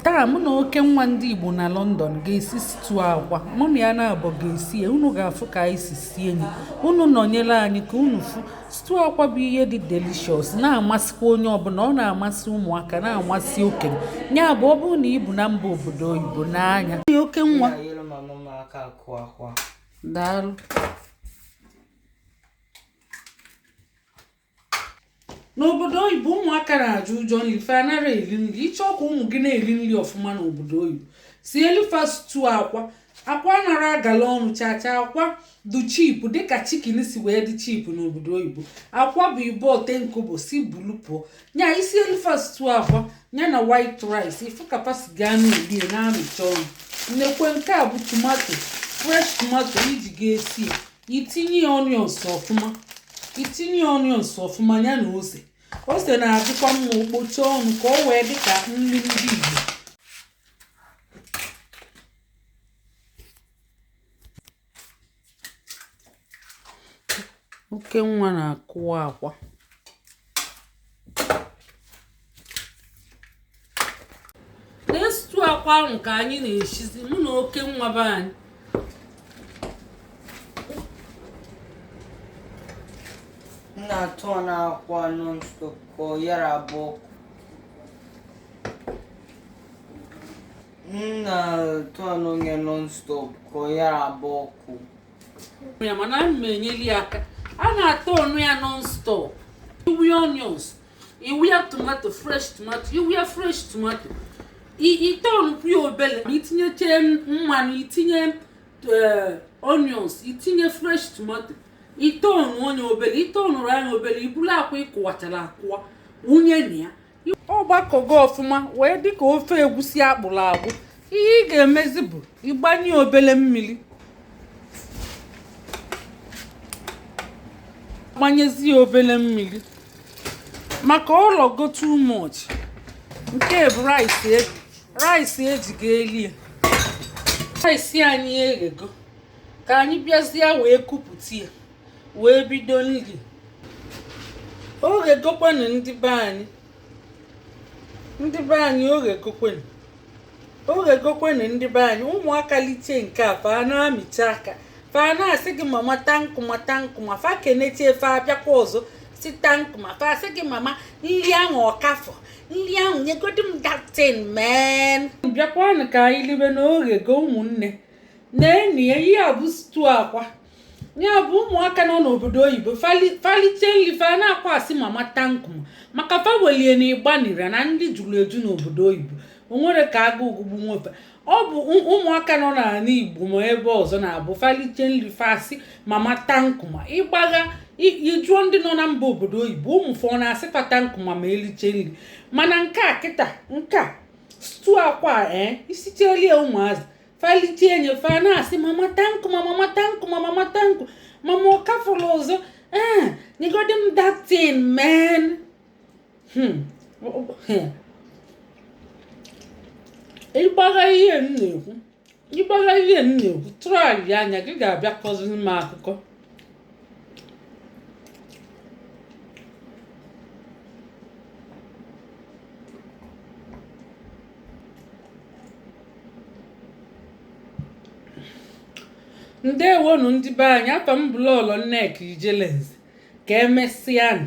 taa mụ na oke nwa ndị igbo na london ga-esi stew akwa mụ na ya naabọ ga-esi ya unu ga-afụ ka anyị si sie nya unu nọnyere anyị ka unu fụ stew akwa bụ ihe dị delicious na-amasịkwa onye ọbụla ọ na-amasị ụmụaka na-amasị okenye ya bụ ọ bụrụ na i bi na mba obodo oyibo n'anya oke nwa daalụ n'obodo oyibo ụmụaka na-atụ ụjọ nri fa anara eri nri ị chọọ ka ụmụ gị na-eri nri ọfụma n'obodo oyibo sielu fa stew akwa akwa anara agala ọnụ chacha akwa dị cheap dịka chicken si wee dị cheap n'obodo oyibo akwa bụ i bu ten kobo sị bulu pụọ nya i sielu fa stew akwa ya na white rice ị fụ ka fa si ga na-eli ya na-amịcha ọnụ nekwe nke a bụ tomato fresh tomato i ji ga-esi ya i tinye onions ọfụma i tinye onions ọfụma ya na ose ose na-adịkwa mma o kpochaa ọnụ ka o wee dị ka nri ndị Igbo oke nwa na-akụwa akwa na stew akwa ahụ ka anyị na-esizi mụ na oke nwa be anyị na-aturn akwa non-stop ka ọ yara agba ọkụ m na-aturn ya non-stop ka ọ yara agba ọkụ ya ma ana m enyeli ya aka a na-aturn ya non-stop ị wụ ya onions ị wụ ya tomato fresh tomato ị wụ ya fresh tomato ị turnkwu ya obele ma i tinyeche mmanụ i tinye eh, onions i tinye fresh tomato ị turn nya obele ị turn nya obele i bulu akwa ị kụwachara akụwa wụnye na ya ọ gbakọgo ọfụma wee dịka ofe egwusi a kpụrụ akpụ ihe ị ga-emezi bụ ịgbanye obele mmiri gbanyezi ya obele mmiri maka ọ lọgo too much nke a bụ rice e, rice e ji ga-eli ya rice anyị eghego ka anyị bịazie wee kupụta ya wee bido nri o ghegokwenụ ndị be anyị ndị be anyị o ghegokwenụ o ghegokwenụ ndị be anyị ụmụaka liche nke a fa na-amịcha aka fa na-asị gị mama thank you ma thank you ma fa kenechie fa abịakwa ọzọ sị thank you ma fa asị gị mama nri ahụ ọ ka fọ nri ahụ nyegodi m that thing men bịakwanụ ka anyị libe na o ghego ụmụnne neenụ ya ihe a bụ stew akwa ya bụ ụmụaka nọ n'obodo oyibo fa liche nri fa na-aka asị mama thank you maka fa welie na ịgbanira na ndị juru eju n'obodo oyibo o nwere ka agụụ ogugbu nwefe ọ bụ ụmụaka nọ n'ala igbo ma ebe ọzọ na-abụ fa liche nri fa asị mama thank you ị gbagha ị jụọ ndị nọ na mba obodo oyibo ụmụ fa ọ na-asị fa thank you ma eliche nri mana nke a kịta nke a stew akwa ee eh, i sitelie ụmụazị fa lichie e nye fa na-asị mama thank you ma mama thank you ma mama thank you mama ọ ka fọrọ ọzọ ee eh, nyegodi m that thing man hmm. ị gbagha ihe m na-ekwu ị gbagha ihe m na-ekwu traịa nya ị ga-abịa kọziri m akụkọ ndewonu ndị be anyị afa m bụ Lọlọ Nneka Ijelenze ka emesịanụ